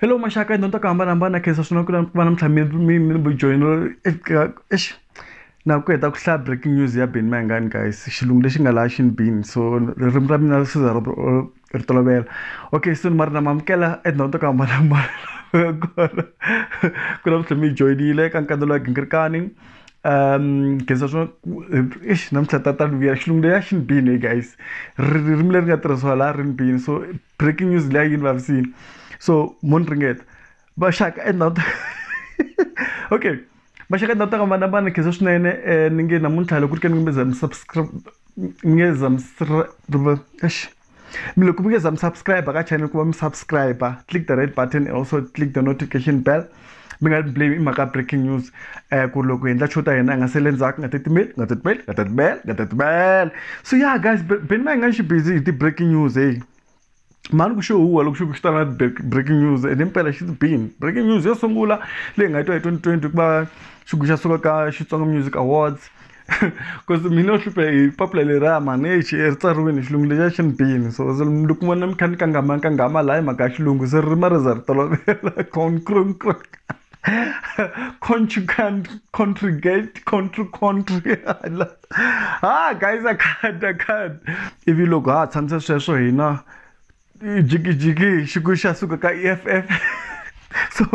hello maxaka hi dyondza ku hambanahambana khensa swinene ku va na mintlhambi mi mi ni bujoyino eka exi Na ku heta ku hlaya breaking news ya Benny Mayengani guys xilungu lexi nga laha xini Benny so ririmi ra mina ri siza ri ri tolovela okay so ni mari na mi amukela etindhawini to ku hambanahambana kona ku na vutlhela mi hi joyinile ka nkandza lowa gingirikani um nkhensa swo eish namuntlha ta ta ni vuyela xilungu leya xini Benny leyi guys ririmi leri nga tirhisiwa laha rini Benny so breaking news leyi a yi ni vavisile so mo ni ringeta. vaxaka endhawu ta okay vaxaka endhawu ta ka vana vana khensa swinene um ni nge namuntlha loko ku ri ka ni nge mi za mi subscribe mi nge za mi eish mi loko mi nge za mi subscribe ka channel ku va mi subscribe click the red button and also click the notification bell mi nga blame i mhaka breaking news um ku loko hi endla show ta hina hi nga sele ndzhaku nga titimeli nga titimeli nga titimeli nga titimeli so ya guys beni ma hi nga xi busy hi ti-breaking news heyi mhani ku xo huwa loko xi ku xi ta na breaking news and impela she's been breaking news yo sungula leyi nga twa hi 2020 ku va xigubu xa suka ka xitsonga music awards because mina yo hluphe hi papila leriya mhani exi ri tsariwini hi xilungu lexiya xi ni bini so loko vona mi kha ni kangama kangama laha hi mhaka ya xilungu se ririmi ri za ri tolovela contrigate contri contri ha guys a khad a khad ivi loko ha tshamisa sweswo hina jikijiki xiku xa suka ka eff so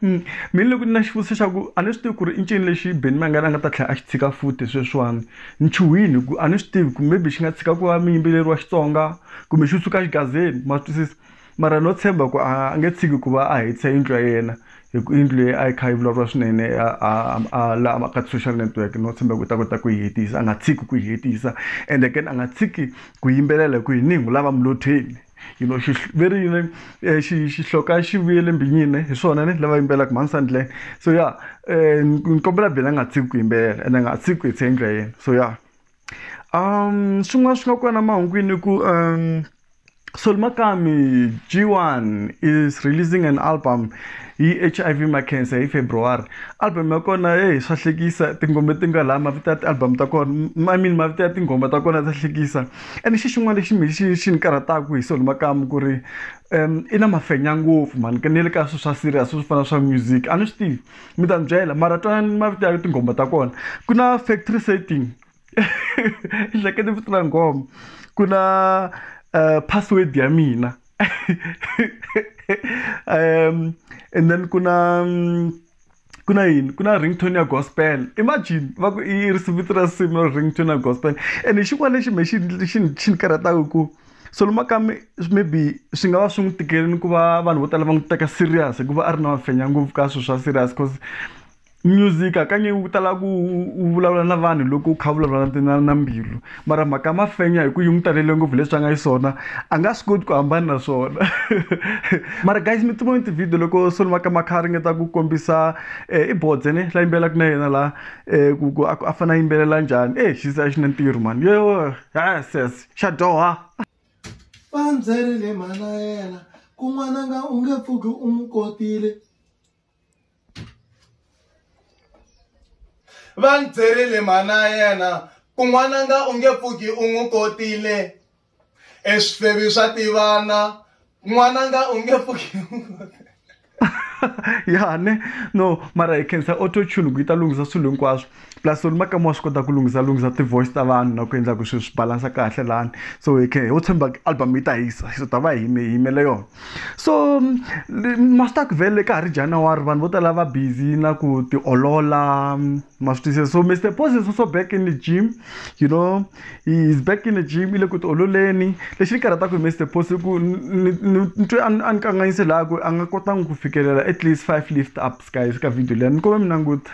mm, mina loko ni na xivutiso xa ku a ni swi tivi ku ri i ncini lexi beni mangani a nga ta tlhela a xi tshika futi sweswiwani ni chuhini ku a ni swi tivi ku maybe xi nga tshika ku va muyimbeleri wa xitsonga kumbe xi suka xigazeni ma swi twisisa Mara no tshemba ku a a nge tshiki ku va a hetisa yindlu ya yena hi ku yindlu leyi a yi kha yi vulavuriwa swinene a a a la a ka ti-social network no tshemba ku u ta kota ku yi hetisa a nga tshiki ku yi hetisa and again a nga tshiki ku yimbelela hi ku hi ningu lava mulotheni you know xi ve ri yini eh, xi xihloka xi vuyele mbinyini hi swona ni lava yimbelaka mhani sandlen so ya um ni kombela bela a nga tshiki ku yimbelela and a nga tshiki ku hetisa yindlu ya yena so ya swin'wana swi nga kona mahungwini i ku Sol Makami G1 is releasing an album hi H_I_V Makhensa hi February album ya kona heyi swa hlekisa tinghoma ti nga la mavito ya ti-album ta kona I mean mavito ya tinghoma ta kona ta hlekisa ene xi xin'wana lexi me xi xi ni karhataku hi Sol Makamu ku ri i na mafenya ngopfu mhani ni le ka swi swa serious swo fana swa music a ni swi tivi mi ta ni byela mara twanani mavito ya tinghoma ta kona ku na factory setting hlekete vito ra nghoma ku na um password ya mina um and then ku na mm, ku na yini ku na ringtone ya gospel imagine va ku i risimu vito ra nsimu ringtone ya gospel and xin'wana lexi me xi xi xi ni karhataku ku so luma ka mi maybe swi nga va swi n'wi tikeleni ku va vanhu vo tala va n'wi teka serious hikuva a ri na mafenya ngopfu ka swilo swa serious cause music hakanyingi wu tala ku u vulavula na vanhu loko u kha vulavula na na na mbilu mara mhaka ya mafenya hi ku yi n'wi talele ngopfu leswi a nga xiswona a nga swi koti ku hambana na swona mara guys mi tivoni ti-video loko soloma ka makha a ringeta ku kombisa um i bodze ne la yimbelelaka na yena laha um ku ku a fane a yimbelela njhani e xisa xi na ntirho mani yo ha ses xa dyoha va ndzerile mhana yena kun'wana nga u nge pfuki u n'wi kotile va ni byerile mhana yena kun'wana nga u nge pfuki u n'wi kotile eswifevi swa tivana n'wananga u nge pfuki ya ne no mara hi khensa autotune ku yi ta lunghisa swilo hinkwaswo plus ri makama wa swi kota ku lunghisa lunghisa ti-voice ta vanhu na ku endla ku swilo swi balansa kahle lani so hi khe ho tshemba album yi ta hisa so ta va hi yimele yona so masita ku vele ka ha ri january vanhu vo tala va busy na ku tiolola ma swi twisisa so mr poses also back in the gym you know he is back in the gym i le ku tiololeni lexi ni karhataku hi mister post i ku ni twe a ni kanganyise laha ku a nga kotangi ku fikelela at least five lift ups guys ka video leyi ni kome mi languta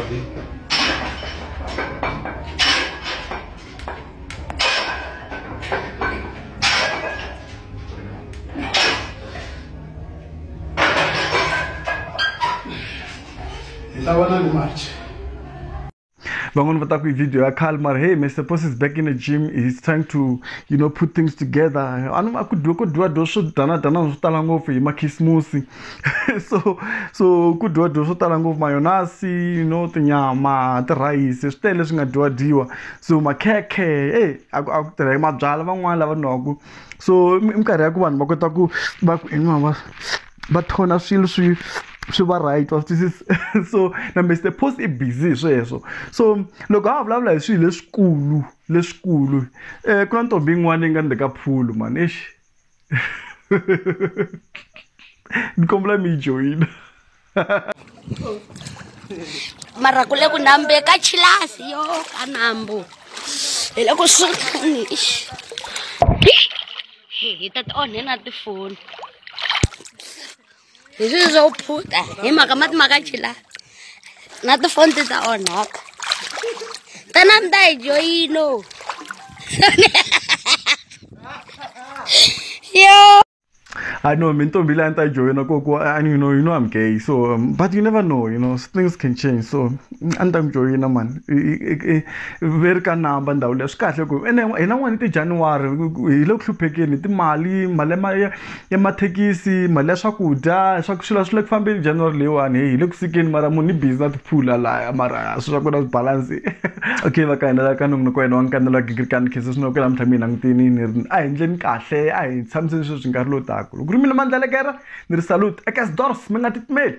Thank you. van'wani va ta ku hi video ya khale mara hey mr pos is back in the gym he's trying to you know put things together a ni a ku dyiwe ku dyiwa dyo swo danadana swo tala ngopfu hi makhisimusi so so ku dyiwa dyiwa swo tala ngopfu mayonasi you know tinyama tirhayisi swi tele leswi nga dyiwa dyiwa so makhekhe e a ku a ku tirha hi mabyalwa van'wani lava nwaku so i minkarhi ya ku vanhu va kota ku va ku inwa va va thona swilo swi swi va right wa swi twisisa so na Mister Post i busy hi sweswo so loko a vulavula hi swilo leswikulu leswikulu ku na ntombi yin'wana yi nga ni le ka pool mhani eish. ni kombela mi yi joyina mara ku le ku nambe ka chilasi yo ka nambu hi le ku sukani hi ta ti onhena tifoni hi swilo swo phuta hi mhaka mati ma ka chila na tifonti ta onhaka tanani ta hi joyino yo I know, mean, don't be lying to you know, go, go, and you know, you know, I'm gay, so, um, but you never know, you know, things can change, so, and I'm joying, man, very can number and down, that's cut, and then, and I wanted to January, you look to pick in the Mali, Malema, ya mathekisi mali ya swakudya swa ku swilo swi le ku fambeni January leyiwani heyi hi le ku fikeni mara munhu i busy na tiphula laya mara swi swa ku na swibalansi okay va ka hina la ka nongonoko wa hina wa nkandelo wa gingirikani khensa swinene ku ya namuntlha mi hi langutini ni ri a hi endleni kahle a hi tshamiseni sweswi nkarhi lowu taka loko ku ri mina Mandla Elekere ni ri salute Ekkersdorp mi nga titimeli.